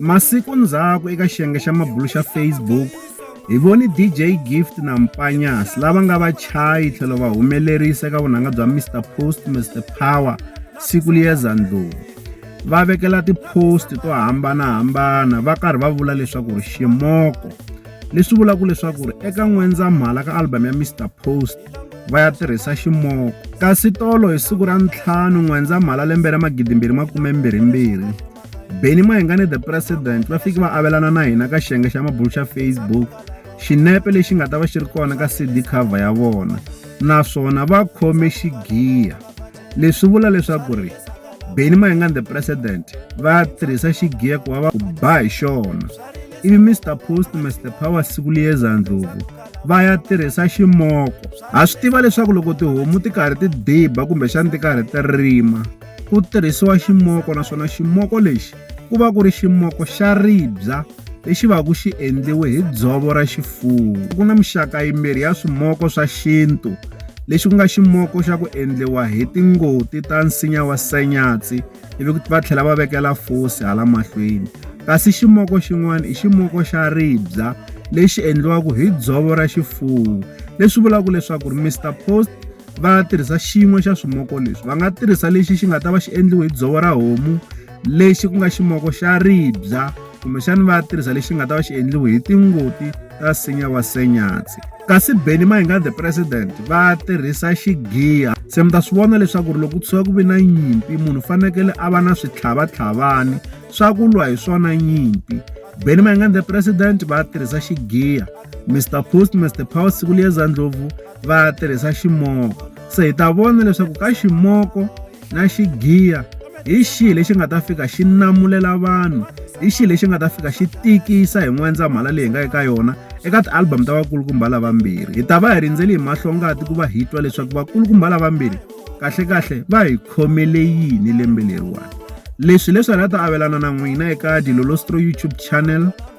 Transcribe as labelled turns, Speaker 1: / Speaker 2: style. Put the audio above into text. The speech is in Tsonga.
Speaker 1: Masiku ndzhaku eka xiyenge xa mabulo xa Facebook, hi voni DJ Gift na Mpanyas lava nga vachayi tlhelo va humelerisa eka vunanga bya Mr Post Mr Power siku liyeza ndlulu. Va vekela ti-post to hambanahambana va karhi va vula leswaku ri ximoko leswi vulaka leswaku ri eka n'wendzamhala ka album ya Mr Post va ya tirhisa ximoko kasi tolo hi siku ra ntlhanu n'wendzamhala lembe ra magidimbirhi makume mbirhi mbirhi Benny Mayengani the President va fiki va avelana na hina ka xiyenge xa mabulu xa Facebook xinepe lexi nga ta va xi ri kona ka CD cover ya vona naswona va khome xigiya leswi vula leswaku ri Benny Mayengani the President va tirhisa xigiya ku va va ba hi xona ivi Mr Post Mr Power siku liyeza ndlhuvu va ya tirhisa ximoko ha swi tiva leswaku loko tihomu ti karhi ti diba kumbexani ti karhi ti rima ku tirhisiwa ximoko naswona ximoko lexi ku va ku ri ximoko xa ribya lexi va ku xi endliwe hi dzovo ra xifuwo ku na mixaka yimbirhi ya swimoko swa xintu lexi ku nga ximoko xa ku endliwa hi tingoti ta nsinya wa sanyatsi ivi va tlhela va vekela fosi hala mahlweni kasi ximoko xin'wana i ximoko xa ribya lexi endliwaka hi dzovo ra xifuwo leswi vulaka leswaku ri Mister Post va tirhisa xin'we xa swimoko leswi va nga tirhisa lexi xi nga ta va xi endliwe hi dzovo ra homu lexi ku nga ximoko xa ribya kumbexani va tirhisa lexi nga ta va xi endliwe hi tingoti ta nsinya wa senyatsi kasi beni ma hi nga the president va tirhisa xigiya se mi ta swi vona leswaku ri loko ku tshuka ku ve na nyimpi munhu u fanekele a va na switlhavatlhavani swa ku lwa hi swona nyimpi beni ma hi nga the president va tirhisa xigiya mr post mr power siku liyeza ndlopfu va tirhisa ximoko se hi ta vona leswaku ka ximoko na xigiya hi xihi lexi nga ta fika xi namulela vanhu hi xihi lexi nga ta fika xi tikisa hi n'wendzamhala leyi nga eka yona eka ti-album ta vakulukumba lavambirhi hi ta va hi rindzeli hi mahlongati ku va hi twa leswaku vakulukumba lavambirhi kahlekahle va hi khomele yini lembe leriwani leswi leswi hi nga ta avelana na n'wina eka dilolostro youtube channel